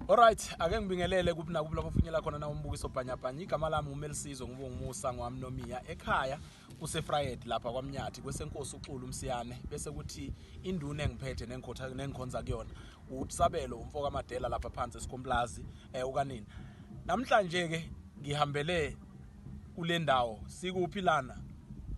Alright, ake ngibingelele kuphi nakuphi lapho ufinyela khona na umbukiso bhanyabhanya. Igama lami uMelisizo ngibonga umusa ngwami nomiya ekhaya kuseFried lapha kwaMnyathi kwesenkosi uXulu uMsiyane bese kuthi induna engiphethe nengikhotha nengikhonza kuyona uTsabelo umfoka Madela lapha phansi esikomplazi eh ukanini. Namhlanje ke ngihambele kule ndawo sikuphi lana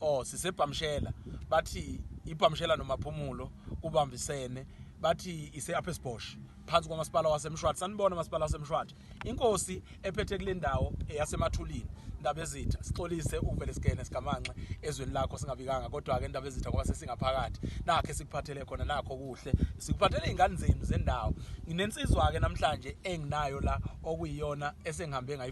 oh sisebhamshela bathi ibhamshela nomaphumulo kubambisene bathi ise upper sbosh phansi kwamasipala wasemshwathi sanibona masipala wasemshwathi inkosi ephethe kule ndawo eyasemathulini ndaba ezitha sixolise uvele sigene sigamanxe ezweni lakho singabikanga kodwa-ke ndaba ezitha ngoba sesingaphakathi nakhe sikuphathele khona nakho kuhle sikuphathele iy'ngane zenu zendawo nginensizwa-ke namhlanje enginayo la okuyiyona esengihambe ngayi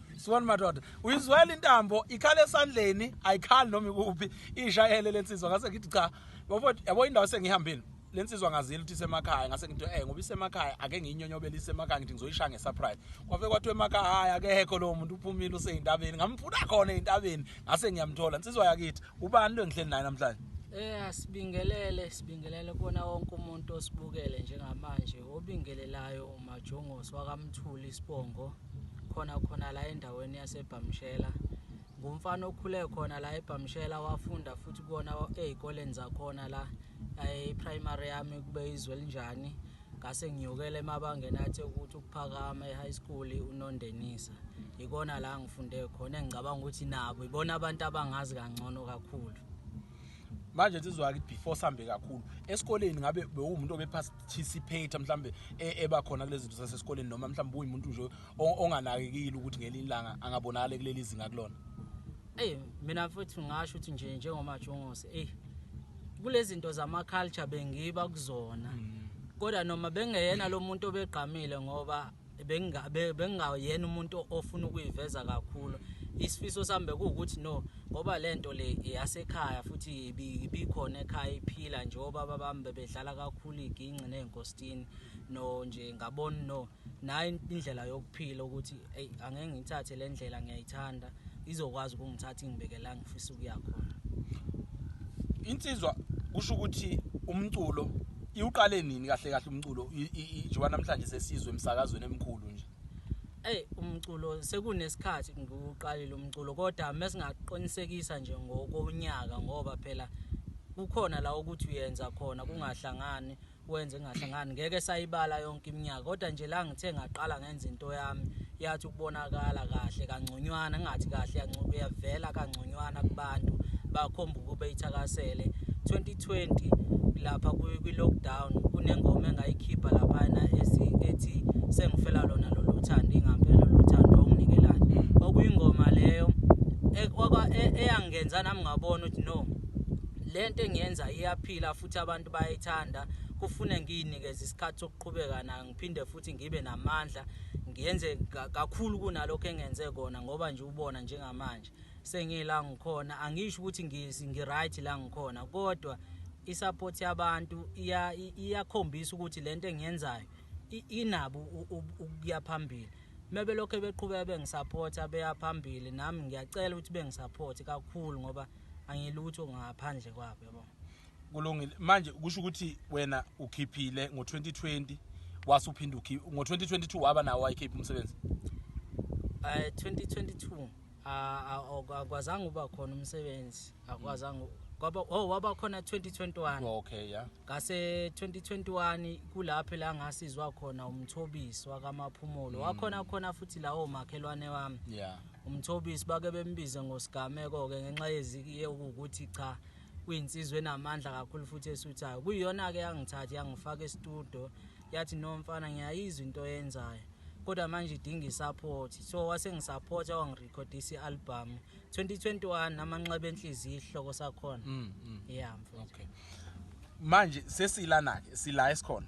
Sibona madoda. Uyizwela intambo ikhala esandleni, ayikhali noma ikuphi. Ishayele lensizwa ngase ngithi cha. Bafo yabo indawo sengihambile. Lensizwa ngazile ukuthi isemakhaya ngase ngithi eh ngoba isemakhaya ake ngiyinyonyobele isemakhaya ngithi ngizoyishaya ngesurprise. Kwafe kwathiwa emakhaya akekho lo muntu uphumile useyintabeni. Ngamfuna khona eintabeni ngase ngiyamthola. Insizwa yakithi ubani lo engihleli naye namhlanje? Eh asibingelele sibingelele kona wonke umuntu osibukele njengamanje obingelelayo uMajongos wakamthuli isibongo khona khona la endaweni yasebhamshela ngumfana okhule khona la ebhamshela wafunda futhi kuwona ezikoleni zakhona la e-primary yami kube izwe linjani ngase ngiyokela emabangeni athi ukuthi ukuphakama e-high school unondenisa ikona la ngifunde khona engicabanga ukuthi nabo ibona abantu abangazi kangcono kakhulu manje sizwa ukuthi before sambe kakhulu esikoleni ngabe bewumuntu obephasa participator mhlambe e, eba khona kulezi zinto zasesikoleni noma mhlambe uyimuntu nje onganakekile ukuthi ngelinye ilanga angabonakala kuleli zinga kulona Ey mina futhi ngasho ukuthi nje njengoma Jongose ey kulezi zinto zama culture bengiba kuzona mm. kodwa noma bengeyena lo muntu obegqamile ngoba bengingayena umuntu ofuna ukuyiveza kakhulu isifiso sami bekuwukuthi no ngoba le nto le yasekhaya futhi ibikhona ekhaya iphila nje obaba bami bebedlala kakhulu iginci ney'nkositini no nje ngabona no nayo indlela yokuphila ukuthi eyi angeke ngiyithathe le ndlela ngiyayithanda izokwazi ukungithatha ingibeke la ngifisa ukuya khona insizwa kusho ukuthi umculo iwuqale nini kahle kahle umculo njengoba namhlanje sesizwe emsakazweni emkhulu nje Ey umculo sekunesikhathi ngiwuqalile umculo kodwa mesingaqinisekisa nje ngokonyaka ngoba phela kukhona la ukuthi uyenza khona kungahlangani mm. wenze ngahlangani ngeke sayibala yonke iminyaka kodwa nje la ngithe ngaqala ngenza into yami yathi ukubonakala kahle kangconywana ngathi kahle yavela kangconywana kubantu bakhomba ukuba ithakasele 2020 lapha kwi-lockdown kunengoma engayikhipha laphana ethi sengifela lona lolu thando ingampela lolu thando onginikelayo hmm. okuyingoma leyo e, e, eyangenza nami ngabona ukuthi no le nto engiyenza iyaphila futhi ukuthi abantu bayayithanda kufune ngiyinikeze isikhathi sokuqhubeka nayo ngiphinde futhi ngibe namandla ngiyenze kakhulu kunalokho engenze kona ngoba nje ubona njengamanje sengila ngikhona angisho ukuthi ngiright la ngikhona kodwa isupport yabantu iyakhombisa ukuthi lento engiyenzayo inabo ukuya phambili mebe lokho beqhubeka bengisupporta beya phambili nami ngiyacela ukuthi bengisupporte kakhulu ngoba angilutho ngaphandle kwabo yabo kulungile manje kusho ukuthi wena ukhiphile ngo-2020 wase uphinde ukhiphe ngo-2022 waba nawo wayikhipha umsebenzi um eh, 2022 akwazange uba khona umsebenzi akwazange kwaba oh waba khona 2021 okay yeah ngase 2021 kulapho la ngasizwa khona umthobisi wakamaphumulo mm. wakhona khona futhi lawo makhelwane wami yeah umthobisi bake bembize ngosigameko ke ngenxa yeziki yokuthi cha kuyinsizwa enamandla kakhulu futhi esuthayo kuyiyona-ke yangithatha yangifaka estudio yathi no mfana ngiyayizwa into oyenzayo kodwa manje idinga i-support so wasengisapotha wangirekhodisa i-album 2021 amanxeba enhliziyo isihloko sakhona mm, mm. yeah mfowethu okay manje sesilana-ke sila esikhona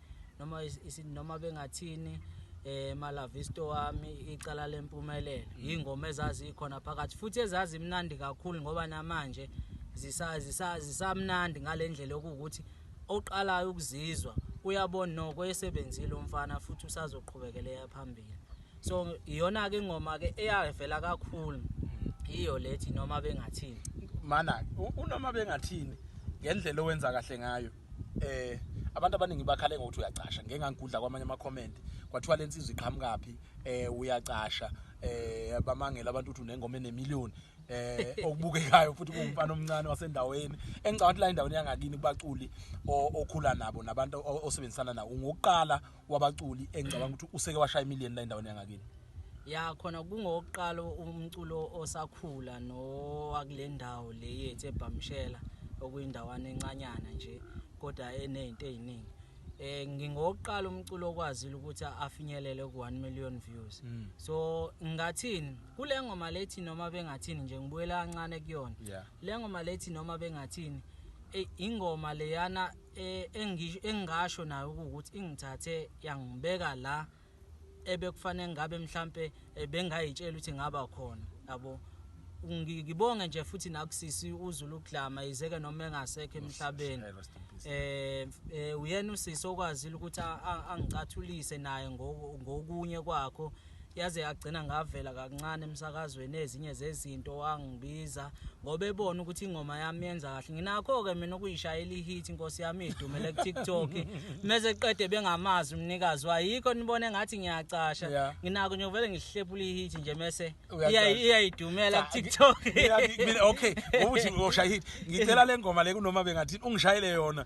noma noma bengathini eh malavisto wami icala lempumelelo mm. ingoma ezazikhona phakathi futhi ezazi imnandi kakhulu ngoba namanje zisazi zisamnandi ngalendlela okuwukuthi oqalayo ukuzizwa uyabona noko esebenzile umfana futhi usazoqhubekela phambili so iyona ke ingoma ke eyavela kakhulu mm. iyo lethi noma bengathini mana unoma bengathini ngendlela owenza kahle ngayo eh abantu abaningi bakhale ngokuthi uyacasha ngeke ngangigudla kwamanye ama comment kwathiwa lensizwe iqhamukaphi eh uyacasha eh bamangela abantu ukuthi unengoma enemillion eh okubukekayo futhi kungumfana omncane wasendaweni engicabanga ukuthi la endaweni yangakini kubaculi okhula nabo nabantu osebenzisana nawo ngokuqala wabaculi engicabanga ukuthi useke washaya imillion la endaweni yangakini ya khona kungokuqala umculo osakhula nowakule ndawo le yethu ebhamshela okuyindawana encanyana nje kodwa enezinto eziningi eh ngingokuqala umculo okwazile ukuthi afinyelele ku 1 million views mm. so ngathini kule ngoma lethi noma bengathini nje ngibuyela kancane kuyona yeah. le ngoma lethi noma bengathini ingoma leyana Eh, engingasho nayo ukuthi ingithathe yangibeka la ebekufanele ngabe mhlampe eh, bengayitshela ukuthi ngaba khona yabo ngibonge nje futhi nakusisi uzulu ukudlama izeke noma engasekho emhlabeni eh, eh uyena usisi okwazile ukuthi angicathulise naye ngokunye kwakho yaze yagcina ngavela kancane emsakazweni ezinye zezinto wangibiza ngoba ebona ukuthi ingoma yami yenza kahle nginakho-ke mina ukuyishayela ihit inkosi yami idumele ku-tiktok mese qede bengamazi umnikazi wayikho nibone ngathi ngiyacasha nginako nje vele ngihlepula ihit nje mese iyayidumela ku-tiktok okay ngoba uthi uyoshaya ihit ngicela le ngoma le kunoma bengathini ungishayele yona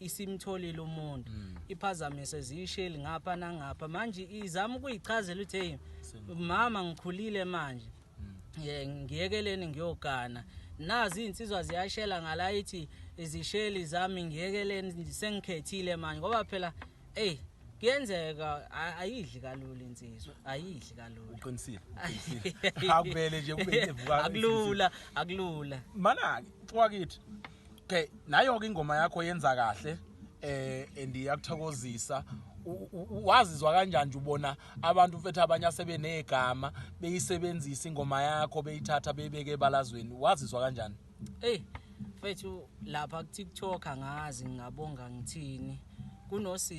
isimtholile umuntu mm. iphazamise ziyisheli ngapha nangapha manje izama ukuyichazela ukuthi hey mama ngikhulile manje mm. ngiyekeleni ngiyogana nazi izinsizwa ziyashela ngala ithi izisheli zami ngiyekeleni sengikhethile manje ngoba phela hey kuyenzeka ayidli kalula insizwa ayidli kalula uqinisile uqinisile akubele nje kube ivuka akulula akulula mana ke wakithi okay nayo-ke ingoma yakho yenza kahle eh and iyakuthokozisa wazizwa kanjani nje ubona abantu mfethu abanye asebenegama beyisebenzisa ingoma yakho beyithatha beyibeke ebalazweni wazizwa kanjani hey mfethu lapha ku-tiktok angazi ngingabonga ngithini kunosizi